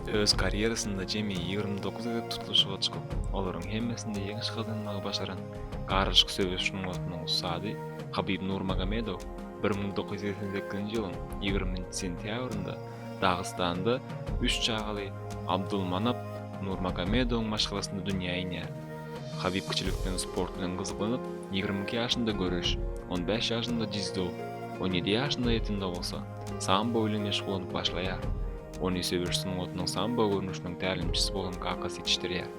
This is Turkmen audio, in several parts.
Öz karýerasynda jemi ýigrimi dokuz gezek tutluşyga çykyp, olaryň hemmesinde ýeňiş gazanmagy başaran garlyşyk söweş sungatynyň ussady Habib Nurmagomedow bir müň dokuz ýüz segsen sekizinji ýylyň ýigriminji sentýabrynda Dagystanda üç çagaly Abdulmanap Nurmagomedowyň maşgalasynda dünýä inýär. Habib kiçilikden sport bilen gyzyklanyp, ýigrimi iki ýaşynda göreş, on bäş ýaşynda dzido, on ýedi ýaşynda ýetimde bolsa, sambo bilen meşgullanyp başlaýar. Ony söweş sungatynyň sambo görnüşiniň tälimçisi bolan kakasy ýetişdirýär.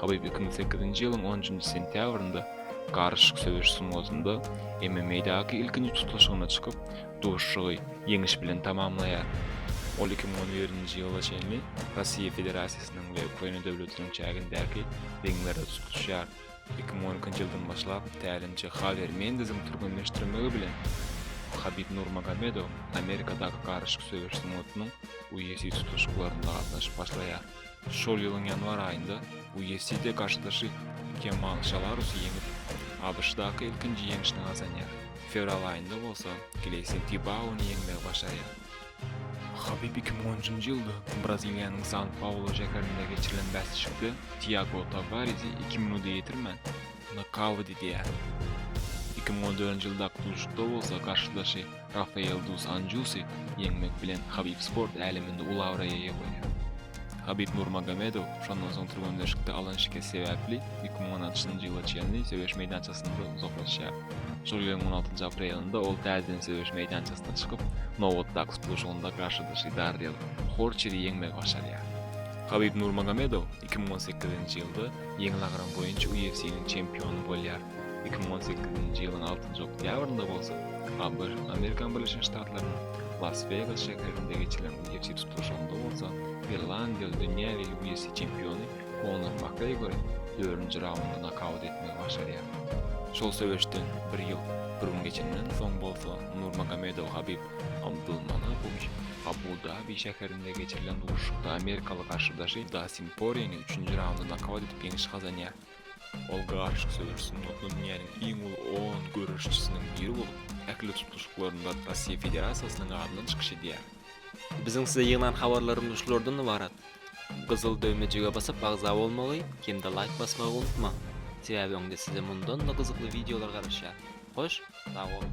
Habib iki müň sekizinji ýylyň on üçünji sentýabrynda garyşyk söweş sungatynda MMA-daky ilkinji tutluşygyna çykyp, duşuşygy ýeňiş bilen tamamlaýar. Ol iki müň on ýedinji ýyla çenli Russiýa Federasiýasynyň we Ukraina döwletiniň çägindäki ringlerde tutluşýar. Iki müň on ikinji ýyldan başlap tälimçi Hawier Mendeziň türgenleşdirmegi bilen Habib Nurmagomedow Amerikadaky garyşyk söweş sungatynyň UFC tutluşyklarynda gatnaşyp başlaýar. Şol ýylyň ýanwar aýynda UFC-de garşydaşy Kemal Şalarusy ýeňip, ABŞ-daky ilkinji ýeňşini gazanýar, fewral aýynda bolsa Gleýson Tibaony ýeňmegi başarýar. Habib iki müň on üçünji ýylda Braziliýanyň San Paulu şäherinde geçirilen bäsleşikde Tiago Tawarizi iki minuta ýetirmän, nokaut edýär. Iki müň on dördünji ýyldaky duşuşykda bolsa garşydaşy Rafael Duz Anjusi ýeňmek bilen Habib sport äleminde uly abraýa eýe bolýar. Habib Nurmagomedow şondan soň türgenleşikde alan şikesi sebäpli iki müň on altynjy ýyla çenli söweş meýdançasyndan uzaklaşýar. Şol ýylyň on altynjy aprelinde ol täzeden söweş meýdançasyna çykyp, nobatdaky tutluşygynda garşydaşy Darriel Horçeri ýeňmegi başarýar. Habib Nurmagomedow iki müň on sekizinji ýylda ýeňil agram boýunça UFC-niň çempiony bolýar, iki müň on sekizinji ýylyň altynjy oktýabrynda bolsa, ABŞ Amerikan Birleşen Ştatlarynyň Las-Wegas şäherinde geçilen Ýiti tutluşygynda bolsa irlandiýaly dünýä we UFC çempiony Konor Makgregori dördünji raundda nokaut etmegi başarýar. Şol söweşden bir ýyl, bir gün geçenden soň bolsa Nurmagomedow Habib Abdulmanapowiç Abu-Dabi şäherinde geçirilen duşuşykda amerikaly garşydaşy Dastin Porýeni üçünji raundda nokaut edip ýeňiş gazanýar. Ol garyşyk söweş sungatyny dünýäniň iň uly on göreşçisiniň biri bolup, ähli tutluşyklarynda Russiýa Federasiýasynyň adyndan çykyş edýär. Biziň size ýygnan habarlarymyz şulardan ybarat. Gyzyl döwmejige basyp agza bolmagy hem-de laýk basmagy unutmaň. Sebäbi öňde size mundan-da gyzykly wideolar garaşýar. Hoş, sag boluň!